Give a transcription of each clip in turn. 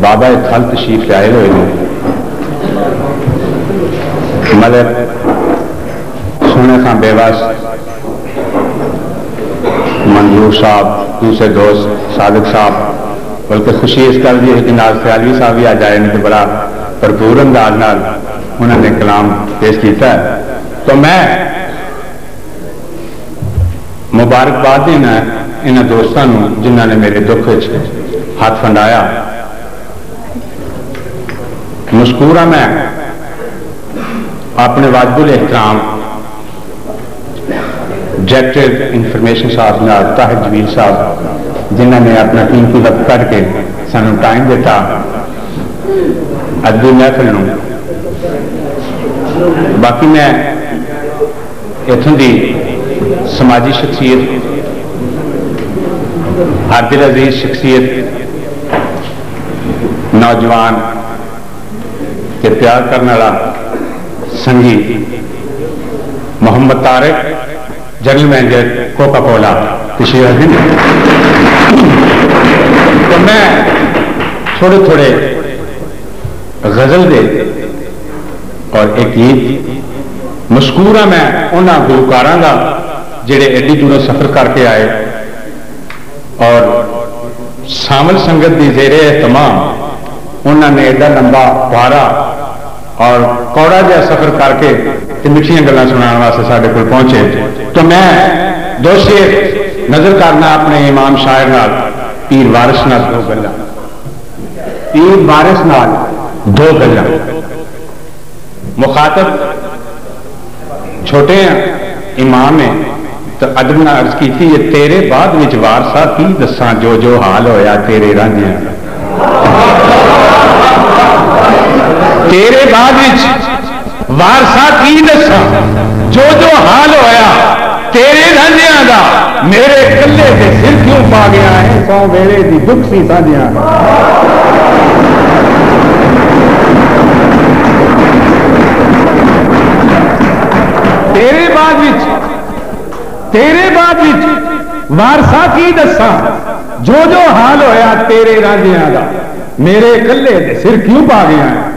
بابا اے تھل تشریف لائے ہوئے نے۔ ملک سونے خاں بے وس، منظور صاحب، دوسرے دوست صادق صاحب بلکہ خوشی اس گل دی ہے کہ نال سیالوی صاحب وی اج آئے نے تے بڑا بھرپور انداز نال انہاں نے کلام پیش کیتا ہے تو میں مبارکباد ݙینداں انہاں دوستاں نوں جنہاں نے میݙے دکھ اچ ہتھ ونڈایا۔ مشکور ہاں میں اپݨے واجب الاحترام ڈائریکٹر انفارمیشن صاحب نال طاہر جمیل صاحب جنہاں نے اپݨا قیمتی وقت کڈھ کے سانوں ٹائم ݙتا ادبی محفل نوں باقی میں اتھوں دی سماجی شخصیت، ہر دل عزیز شخصیت، نوجوان تے پیار کرݨ آلا سنگی Muhammad Tariq general manager Coca Cola تشریف رکھدن تاں میں تھوڑے تھوڑے غزل دے اور اے گیت مذکورہ میں انہاں گلوکاراں دا جیڑھے ایڈی دوروں سفر کر کے آئے اور سانول سنگت دی زیر اہتمام انہاں نے ایڈا لمبا بھارا اور کوڑا جیہا سفر کر کے تے مٹھیاں گلاں سنڑان واسطے ساڈے کول پہنچے تو میں دو شعر نذر کرنا اپنے امام شاعر نال پیر وارث نال دو گلاں۔ تیز بارش نال ڈھو گجاں۔ مخاطب چھوٹے آں امام اے تاں ادب نال عرض کیتی اے تیرے بعد وچ وارثا کی دساں جو جو حال ہویا تیرے رانجھیاں دا تیرے بعد وچ۔ وارثا کی ݙساں جو جو حال ہویا تیرے رانجھیاں دا میݙے کلھے تے سر کیوں پا ڳیا ایں سوں ویلے دی ݙکھ سی سانجھیاں تیرے بعد وچ تیرے بعد وچ وارثا کی ݙساں جو جو حال ہویا تیرے رانجھیاں دا میݙے کلھے تے سر کیوں پا ڳیا ایں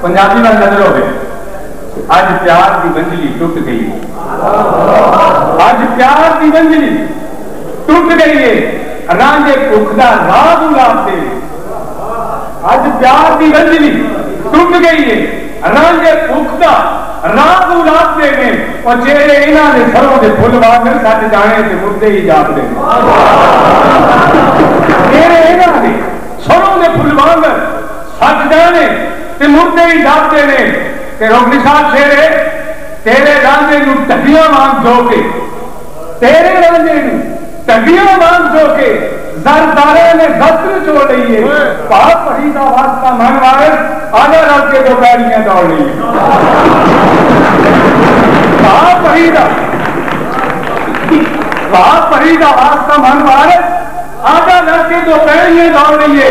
پنجابی ول نظر ہووے اج پیار دی ونجلی ٹٹ گئی ہے اج پیار دی ونجلی ٹٹ گئی ہے رانجھے بھکھ دا راز اولاد دے وچ اج پیار دی ونجلی ٹٹ گئی ہے رانجھے بھکھ دا راز اولاد دے نے او چہرے انہاں دے سروں دے پھل وانگر سٹ جانے تے مردے ہی جاپدے نے چہرے انہاں دے سروں دے پھل وانگر سچ جانے تے مردے وی جاگدے نے تے رخ نشان چھیڑے تیرے رانجھے نوں ٹڈیاں وانگ جو کے تیرے رانجھے نوں ٹڈیاں وانگ جو کے زر داراں نے زس نہ چھوڑ لئیے پاک پڑھی دا واسطہ منگ وارث آجا رل کے دو پیڑیاں دوڑ لئیے پاک پڑھی دا پاک پڑھی دا واسطہ منگ وارث آجا رل کے دو پیڑیاں دوڑ لئیے۔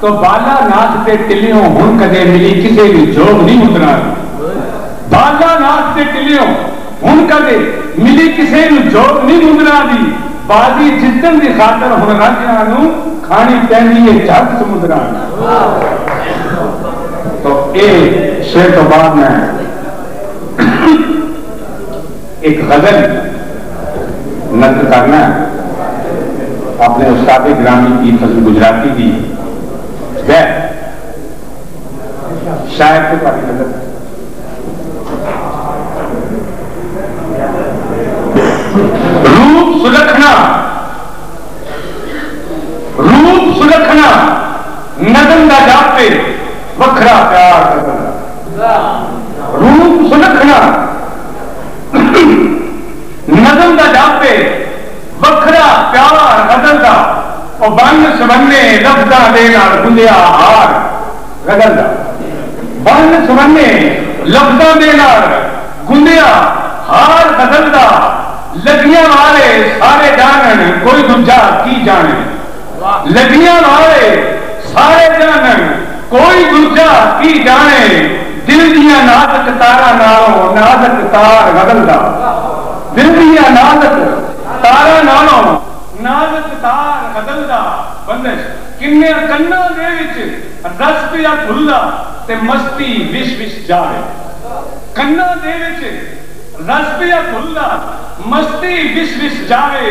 توں بالا ناتھ تے ٹلیوں ہن کدے ملی کسے وی جوگ نی مکران دی بالا ناتھ تے ٹلیوں ہن کدے ملی کسے نو جوگ نی مندراں دی بازی جتن دی خاطر ہن رانجھیاں نو کھانی پیندی اے جھگ سمندراں دی توں اے شعر توں بعد میں۔ ہک غزل نقل کرݨا ہے اپݨے استاد گرامی پیر فضل گجراتی دی بیت شاعر تے تہاݙی نظر نظم دا ڈپ اے وکھرا پیار غزل دا او بن سونے لفظاں دے نال گندھیا ہار غزل دا بن سونے لفظاں دے نال گندھیا ہار غزل دا لگیاں والے سارے ڈانن کوئی دوجھا کی جانن۔ لگیاں والے سارے جانن کوئی ݙوجھا کی ڄاݨے دل دیاں نازک تاراں نالوں نازک تار غزل دا دل دیاں نازک تاراں نالوں نازک تار غزل دا بندش کنیاں کناں دے وچ رس پیا گھلدا تے مستی وش وش جاوے کناں دے وچ رس پیا گھلدا مستی وش وش جاوے۔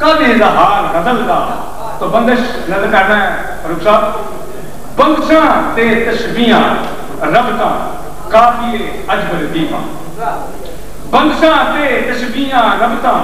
کل ایں دا حال غزل دا تو بندش نظر کرنا ہے فاروق صاحب بندشاں تے تشبیہاں ربطاں قابل عجب لطیفاں بندشاں تے تشبیہاں ربطاں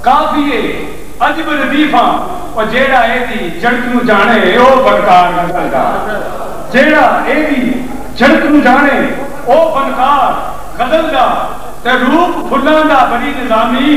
قابل عجب لطیفاں او جیہڑا اے دی جڑت نوں جاݨے او فنکار غزل دا جیہڑا اے دی جڑت نوں جاݨے او فنکار غزل دا تے روپ پھلاں دا بنی نظامی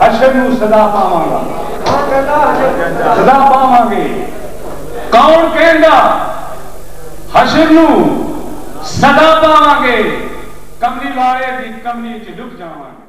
حشر نوں سزا پاواں گا۔ کون کہندا حشر نوں سزا پاواں گے۔ کون کہندا حشر نوں سزا پاواں گے۔ کملی والے دی کملی اچ لک جاواں گے۔